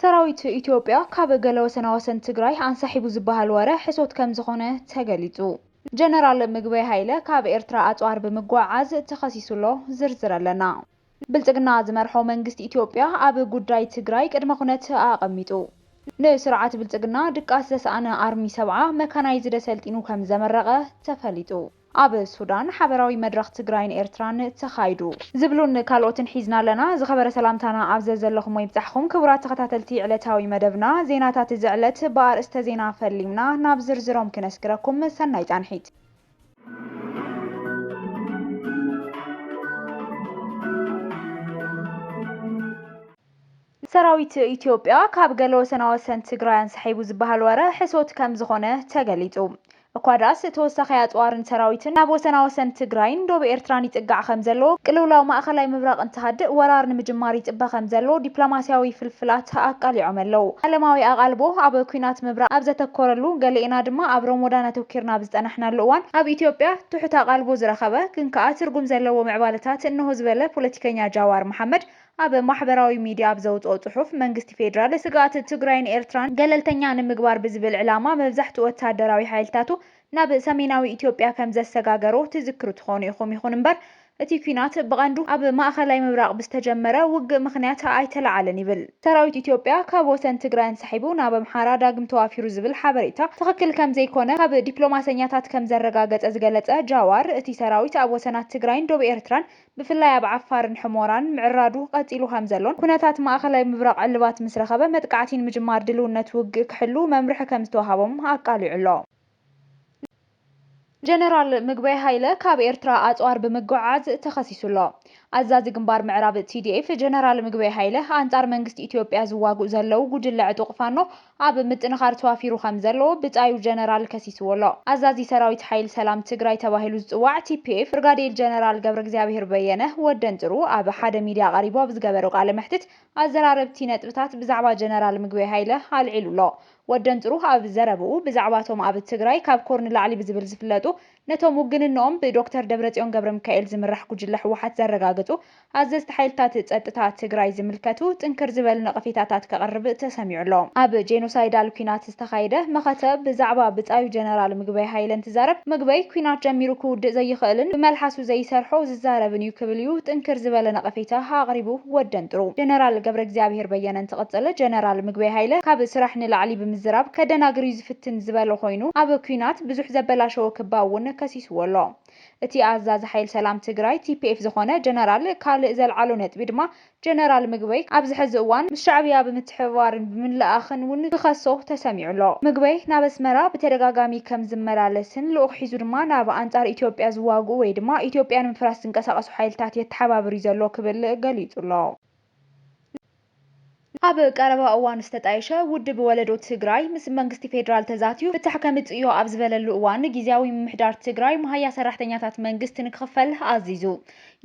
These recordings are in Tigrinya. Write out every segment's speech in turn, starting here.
ሰራዊት ኢትዮጵያ ካብ ገለ ወሰናወሰን ትግራይ ኣንሳሒቡ ዝበሃል ወረ ሕሶት ከምዝኾነ ተገሊፁ። ጀነራል ምግበይ ሃይለ ካብ ኤርትራ ኣፅዋር ብምጉዕዓዝ ተኸሲሱ ኣሎ፣ ዝርዝር ኣለና። ብልፅግና ዝመርሖ መንግስቲ ኢትዮጵያ ኣብ ጉዳይ ትግራይ ቅድመ ኩነት ኣቐሚጡ። ንስርዓት ብልፅግና ድቃስ ዘስኣነ ኣርሚ ሰብዓ መካናይዝደ ሰልጢኑ ከምዘመረቐ ተፈሊጡ። ኣብ ሱዳን ሓበራዊ መድረኽ ትግራይን ኤርትራን ተኻይዱ። ዝብሉን ካልኦትን ሒዝና ኣለና። ዝኸበረ ሰላምታና ኣብ ዘዘለኹሞ ይብጻሕኹም ክቡራት ተኸታተልቲ ዕለታዊ መደብና ዜናታት እዚ ዕለት ብኣርእስተ ዜና ፈሊምና ናብ ዝርዝሮም ክነስግረኩም ሰናይ ጻንሒት። ሰራዊት ኢትዮጵያ ካብ ገለ ወሰናወሰን ትግራይ ኣንሳሒቡ ዝበሃል ወረ ሕሶት ከምዝኾነ ተገሊፁ። እኳ ድኣስ ተወሳኺ ኣፅዋርን ሰራዊትን ናብ ወሰናወሰን ትግራይን ዶብ ኤርትራን ይፅጋዕ ከምዘሎ፣ ቅልውላው ማእኸላይ ምብራቕ እንትሃድእ ወራር ንምጅማር ይፅበ ከምዘሎ ዲፕሎማሲያዊ ፍልፍላት ኣቃሊዖም ኣለው። ዓለማዊ ኣቓልቦ ኣብ ኲናት ምብራቕ ኣብ ዘተኮረሉ፣ ገሊኤና ድማ ኣብ ሮሞዳን ኣተኲርና ኣብ ዝፀናሕናሉ እዋን፣ ኣብ ኢትዮጵያ ትሑት ኣቓልቦ ዝረኸበ ግን ከዓ ትርጉም ዘለዎ ምዕባለታት እነሆ ዝበለ ፖለቲከኛ ጃዋር መሓመድ፣ ኣብ ማሕበራዊ ሚዲያ ኣብ ዘውጽኦ ጽሑፍ፣ መንግስቲ ፌደራል፣ ስግኣት ትግራይን ኤርትራን ገለልተኛ ንምግባር ብዝብል ዕላማ መብዛሕትኡ ወተሃደራዊ ሓይልታቱ ናብ ሰሜናዊ ኢትዮጵያ ከምዘሰጋገሮ ትዝክሩ ትኾኑ ኢኹም። ይኹን እምበር እቲ ኲናት ብቐንዱ ኣብ ማእኸላይ ምብራቕ ብዝተጀመረ ውግእ ምኽንያት ኣይተለዓለን ይብል። ሰራዊት ኢትዮጵያ ካብ ወሰን ትግራይ ኣንሳሒቡ ናብ ኣምሓራ ዳግም ተዋፊሩ ዝብል ሓበሬታ ትኽክል ከምዘይኮነ ካብ ዲፕሎማሰኛታት ከምዘረጋገጸ ዝገለጸ ጃዋር፣ እቲ ሰራዊት ኣብ ወሰናት ትግራይን ዶብ ኤርትራን ብፍላይ ኣብ ዓፋርን ሕሞራን ምዕራዱ ቐፂሉ ከምዘሎን ኩነታት ማእኸላይ ምብራቕ ዕልባት ምስ ረኸበ መጥቃዕቲ ንምጅማር ድልውነት ውግእ ክሕልው መምርሒ ከምዝተውሃቦም ኣቃሊዑ ኣሎ። ጀነራል ምግበይ ሃይለ ካብ ኤርትራ ኣፅዋር ብምጉዕዓዝ ተኸሲሱ ኣሎ። ኣዛዚ ግንባር ምዕራብ፣ TDF፣ ጀነራል ምግበይ ሃይለ ኣንፃር መንግስቲ ኢትዮጵያ ዝዋግኡ ዘለው ጉጅለ ዕጡቕ ፋኖ፣ ኣብ ምጥንኻር ተዋፊሩ ከም ዘሎ ብጻዩ ጀነራል ከሲስዎ ኣሎ። ኣዛዚ ሰራዊት ሓይል ሰላም ትግራይ ተባሂሉ ዝጽዋዕ ቲፒኤፍ ብርጋዴል ጀነራል ገብረእግዚኣብሄር በየነ፣ ወደንጥሩ፣ ኣብ ሓደ ሚድያ ቀሪቡ ኣብ ዝገበሮ ቃለ መሕትት ኣዘራረብቲ ነጥብታት ብዛዕባ ጀነራል ምግበይ ሃይለ ኣልዒሉ ኣሎ። ወደንጥሩ ኣብ ዘረብኡ ብዛዕባ'ቶም ኣብ ትግራይ ካብ ኮር ንላዕሊ ብዝብል ዝፍለጡ ነቶም ውግንንኦም ብዶክተር ደብረፅዮን ገብረሚካኤል ዝምራሕ ጉጅለ ህወሓት ዘረጋገፁ ኣዘዝቲ ሓይልታት ፀጥታ ትግራይ ዝምልከቱ ጥንክር ዝበሉ ነቐፌታታት ከቕርብ ተሰሚዑ ኣሎ። ኣብ ጄኖሳይዳል ኲናት ዝተኻየደ መኸተ ብዛዕባ ብፃዩ ጀነራል ምግበይ ሃይለ እንትዛረብ ምግበይ ኲናት ጀሚሩ ክውድእ ዘይኽእልን ብመልሓሱ ዘይሰርሖ ዝዛረብን እዩ ክብል እዩ ጥንክር ዝበለ ነቐፌታ ኣቕሪቡ። ወደንጥሩ ጀነራል ገብረእግዚኣብሄር በየነ እንትቕፅል ጀነራል ምግበይ ሃይለ ካብ ስራሕ ንላዕሊ ብምዝራብ ከደናግር እዩ ፍትን ዝበለ ኮይኑ ኣብ ኲናት ብዙሕ ዘበላሸወ ክባ እውን ከሲስዎ ኣሎ። እቲ ኣዛዚ ሓይል ሰላም ትግራይ፣ TPF፣ ዝኾነ ጀነራል ካልእ ዘልዓሎ ነጥቢ ድማ ጀነራል ምግበይ ኣብዚ ሕዚ እዋን ምስ ሻዕብያ ብምትሕብባርን ብምልእኣኽን እውን ክኸሶ ተሰሚዑ ኣሎ። ምግበይ ናብ ኣስመራ ብተደጋጋሚ ከም ዝመላለስን ልኡኽ ሒዙ ድማ ናብ ኣንጻር ኢትዮጵያ ዝዋግኡ ወይ ድማ ኢትዮጵያ ንምፍራስ ዝንቀሳቐሱ ሓይልታት የተሓባብር እዩ ዘሎ ክብል ገሊጹ ኣሎ። ኣብ ቀረባ እዋን ዝተጣየሸ ውድብ ወለዶ ትግራይ ምስ መንግስቲ ፌዴራል ተዛትዩ ፍታሕ ከምፅእዮ ኣብ ዝበለሉ እዋን ጊዚያዊ ምምሕዳር ትግራይ መሃያ ሰራሕተኛታት መንግስት ንክኽፈል ኣዚዙ።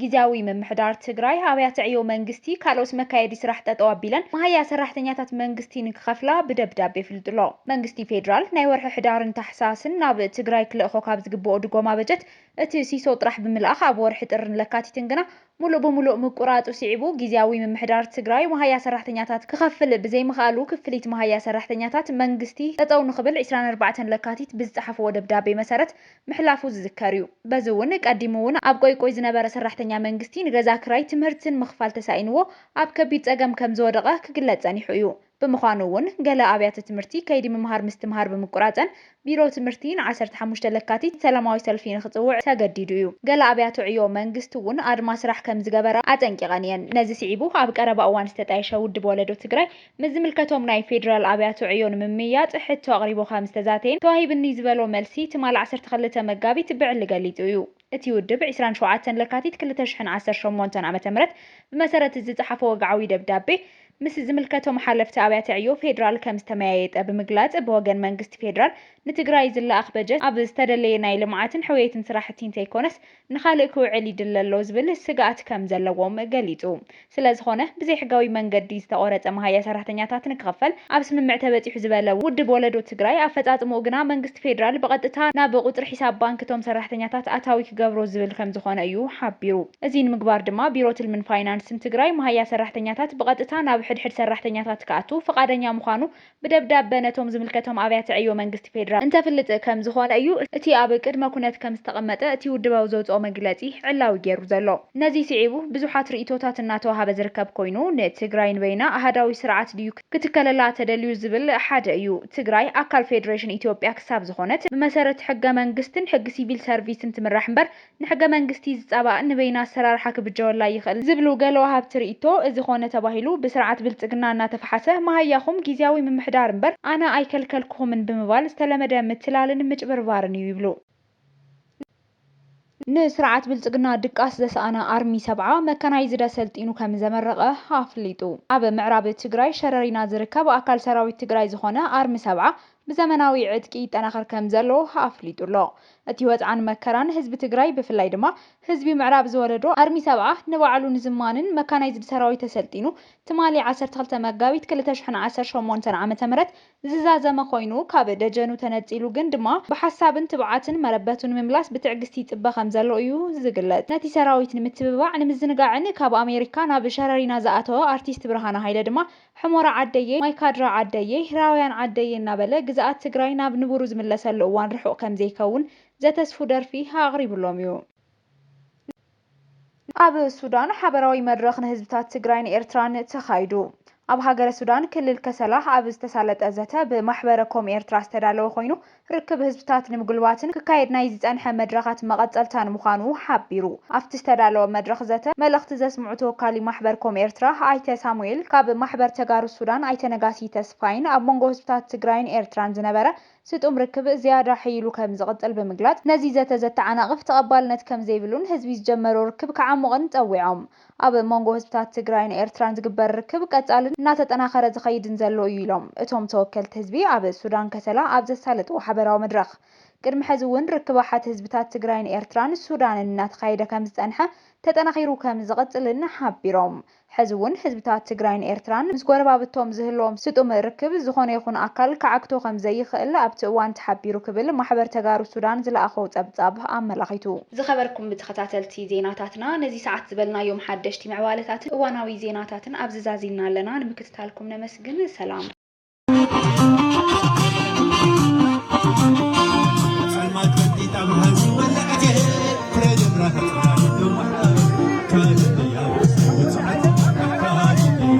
ጊዚያዊ ምምሕዳር ትግራይ ኣብያተ ዕዮ መንግስቲ ካልኦት መካየዲ ስራሕ ጠጠው ኣቢለን መሃያ ሰራሕተኛታት መንግስቲ ንክኸፍላ ብደብዳቤ ኣፍሊጡ'ሎ። መንግስቲ ፌዴራል ናይ ወርሒ ሕዳርን ታሕሳስን ናብ ትግራይ ክልእኾ ካብ ዝግበኦ ድጎማ በጀት እቲ ሲሶ ጥራሕ ብምልኣኽ ኣብ ወርሒ ጥርን ለካቲትን ግና ሙሉእ ብሙሉእ ምቁራፁ ስዒቡ ጊዚያዊ ምምሕዳር ትግራይ መሃያ ሰራሕተኛታት ክኸፍል ብዘይምኽኣሉ ክፍሊት መሃያ ሰራሕተኛታት መንግስቲ ጠጠው ንኽብል ዕስራን ኣርባዕተን ለካቲት ብዝፀሓፍዎ ደብዳቤ መሰረት ምሕላፉ ዝዝከር እዩ። በዚ እውን ቀዲሙ እውን ኣብ ቆይቆይ ዝነበረ ሰራሕተኛ መንግስቲ ንገዛ ክራይ፣ ትምህርትን ምኽፋል ተሳኢንዎ ኣብ ከቢድ ፀገም ከምዝወደቐ ክግለፅ ፀኒሑ እዩ። ብምዃኑ እውን ገለ ኣብያተ ትምህርቲ ከይዲ ምምሃር ምስትምሃር ብምቁራፀን ቢሮ ትምህርቲ ን ዓሰርተ ሓሙሽተ ለካቲት ሰላማዊ ሰልፊ ንክፅውዕ ተገዲዱ እዩ። ገለ ኣብያተ ዕዮ መንግስቲ እውን ኣድማ ስራሕ ከምዝገበራ ኣጠንቂቐን እየን። ነዚ ስዒቡ ኣብ ቀረባ እዋን ዝተጣየሸ ውድብ ወለዶ ትግራይ ምስ ዝምልከቶም ናይ ፌዴራል ኣብያተ ዕዮ ንምምይያጥ ሕቶ ኣቕሪቡ ከምዝተዛተየን ተዋሂብኒ ዝበሎ መልሲ ትማል ዓሰርተ ክልተ መጋቢት ብዕሊ ገሊፁ እዩ። እቲ ውድብ ዕስራን ሸውዓተን ለካቲት ክልተ ሽሕን ዓሰርተ ሸሞንተን ዓመተ ምህረት ብመሰረት እዚ ዝፀሓፎ ወግዓዊ ደብዳቤ ምስ ዝምልከቶም ሓለፍቲ ኣብያተ ዕዮ ፌዴራል ከምዝተመያየጠ ብምግላፅ ብወገን መንግስቲ ፌዴራል ንትግራይ ዝለኣኽ በጀት ኣብ ዝተደለየ ናይ ልምዓትን ሕውየትን ስራሕቲ እንተይኮነስ ንኻልእ ክውዕል ይድለ ኣሎ ዝብል ስግኣት ከምዘለዎም ገሊፁ። ስለዝኾነ ብዘይሕጋዊ መንገዲ ዝተቖረፀ መሃያ ሰራሕተኛታት ንክኽፈል ኣብ ስምምዕ ተበፂሑ ዝበለ ውድብ ወለዶ ትግራይ፣ ኣፈፃፅምኡ ግና መንግስቲ ፌዴራል ብቐጥታ ናብ ቑፅሪ ሒሳብ ባንኪ እቶም ሰራሕተኛታት ኣታዊ ክገብሮ ዝብል ከምዝኾነ እዩ ሓቢሩ። እዙይ ንምግባር ድማ ቢሮ ትልምን ፋይናንስን ትግራይ መሃያ ሰራሕተኛታት ብቐጥታ ናብ ሕድሕድ ሰራሕተኛታት ክኣቱ ፍቓደኛ ምዃኑ ብደብዳበ ነቶም ዝምልከቶም ኣብያተ ዕዮ መንግስቲ ፌደራል እንተፍልጥ ከም ዝኾነ እዩ እቲ ኣብ ቅድመ ኩነት ከም ዝተቐመጠ እቲ ውድባዊ ዘውጽኦ መግለጺ ዕላዊ ገይሩ ዘሎ። ነዚ ስዒቡ ብዙሓት ርእይቶታት እናተወሃበ ዝርከብ ኮይኑ፣ ንትግራይ ንበይና ኣሃዳዊ ስርዓት ድዩ ክትከለላ ተደልዩ ዝብል ሓደ እዩ። ትግራይ ኣካል ፌደሬሽን ኢትዮጵያ ክሳብ ዝኾነት ብመሰረት ሕገ መንግስትን ሕጊ ሲቪል ሰርቪስን ትምራሕ እምበር ንሕገ መንግስቲ ዝፃባእ ንበይና ኣሰራርሓ ክብጀወላ ይኽእል ዝብሉ ገለ ወሃብቲ ሪኢቶ እዚ ኾነ ተባሂሉ ብስርዓት ብልፅግና እናተፈሓሰ መሃያኹም ጊዚያዊ ምምሕዳር እምበር ኣነ ኣይከልከልኩኹምን ብምባል ዝተለመደ ምትላልን ምጭብርባርን እዩ ይብሉ። ንስርዓት ብልፅግና ድቃስ ዘሰኣነ ኣርሚ ሰብዓ መካናይዝድ ኣሰልጢኑ ከምዘመረቐ ኣፍሊጡ። ኣብ ምዕራብ ትግራይ ሸረሪና ዝርከብ ኣካል ሰራዊት ትግራይ ዝኾነ ኣርሚ ሰብዓ ብዘመናዊ ዕጥቂ ይጠናኸር ከምዘሎ ኣፍሊጡ'ሎ። እቲ ወጽዓን መከራን ህዝቢ ትግራይ ብፍላይ ድማ ህዝቢ ምዕራብ ዝወለዶ ኣርሚ ሰብዓ ንባዕሉ ንዝማንን መካናይዝድ ሰራዊት ኣሰልጢኑ ትማሊ ዓሰርተ ክልተ መጋቢት ክልተ ሽሕን ዓሰርተ ሸሞንተን ዓመተ ምህረት ዝዛዘመ ኮይኑ ካብ ደጀኑ ተነጺሉ ግን ድማ ብሓሳብን ትብዓትን መረበቱ ንምምላስ ብትዕግስቲ ይጽበ ከምዘሎ እዩ ዝግለጽ። ነቲ ሰራዊት ንምትብባዕ ንምዝንጋዕን ካብ ኣሜሪካ ናብ ሸረሪና ዝኣተወ ኣርቲስት ብርሃነ ሃይለ ድማ ሑሞራ ዓደየይ፣ ማይካድራ ዓደየይ፣ ራውያን ዓደየይ እናበለ ግዝኣት ትግራይ ናብ ንቡሩ ዝምለሰሉ እዋን ርሑቕ ከምዘይከውን ዘተስፉ ደርፊ ኣቕሪቡሎም እዩ። ኣብ ሱዳን ሓበራዊ መድረኽ ንህዝብታት ትግራይን ኤርትራን ተኻይዱ። ኣብ ሃገረ ሱዳን ክልል ከሰላ ኣብ ዝተሳለጠ ዘተ ብማሕበረ ኮም ኤርትራ ዝተዳለወ ኮይኑ፣ ርክብ ህዝብታት ንምጉልባትን ክካየድ ናይ ዝጸንሐ መድረኻት መቐጸልታን ምዃኑ ሓቢሩ። ኣብቲ ዝተዳለወ መድረኽ ዘተ፣ መልእኽቲ ዘስምዑ ተወካሊ ማሕበር ኮም ኤርትራ ኣይተ ሳሙኤል፣ ካብ ማሕበር ተጋሩ ሱዳን ኣይተ ነጋሲ ተስፋይን ኣብ መንጎ ህዝብታት ትግራይን ኤርትራን ዝነበረ ስጡም ርክብ ዝያዳ ሕይሉ ከምዝቕጽል ብምግላጽ፣ ነዚ ዘተ ዘተዓናቕፍ ተቐባልነት ከምዘይብሉን ህዝቢ ዝጀመሮ ርክብ ክዓሙቕን ጸዊዖም። ኣብ መንጎ ህዝብታት ትግራይን ኤርትራን ዝግበር ርክብ ቀፃልን እናተጠናኸረ ዝኸይድን ዘሎ ኢዩ ኢሎም እቶም ተወከልቲ ህዝቢ ኣብ ሱዳን ከሰላ ኣብ ዘሳለጥዎ ሓበራዊ መድረኽ። ቅድሚ ሕዚ እውን ርክብ ኣሓት ህዝብታት ትግራይን ኤርትራን ሱዳንን እናተኻየደ ከምዝፀንሐ ተጠናኺሩ ከምዝቕፅልን ሓቢሮም ሕዚ እውን ህዝብታት ትግራይን ኤርትራን ምስ ጎረባብቶም ዝህልዎም ስጡም ርክብ ዝኾነ ይኹን ኣካል ክዓግቶ ከምዘይኽእል ኣብቲ እዋን ተሓቢሩ ክብል ማሕበር ተጋሩ ሱዳን ዝለኣኾ ፀብፃብ ኣመላኺቱ። ዝኸበርኩም ብተኸታተልቲ ዜናታትና ነዚ ሰዓት ዝበልናዮም ሓደሽቲ ምዕባለታትን እዋናዊ ዜናታትን ኣብዚ ዛዚምና ኣለና ንምክትታልኩም ነመስግን ሰላም። ጸልማት በጢጣ ብርሃን ዝወለዐት እየ ፍረ ጀምራ ተጽራሪ ነዋሕታ ካልእያ ውጽዓት ኣካል እያ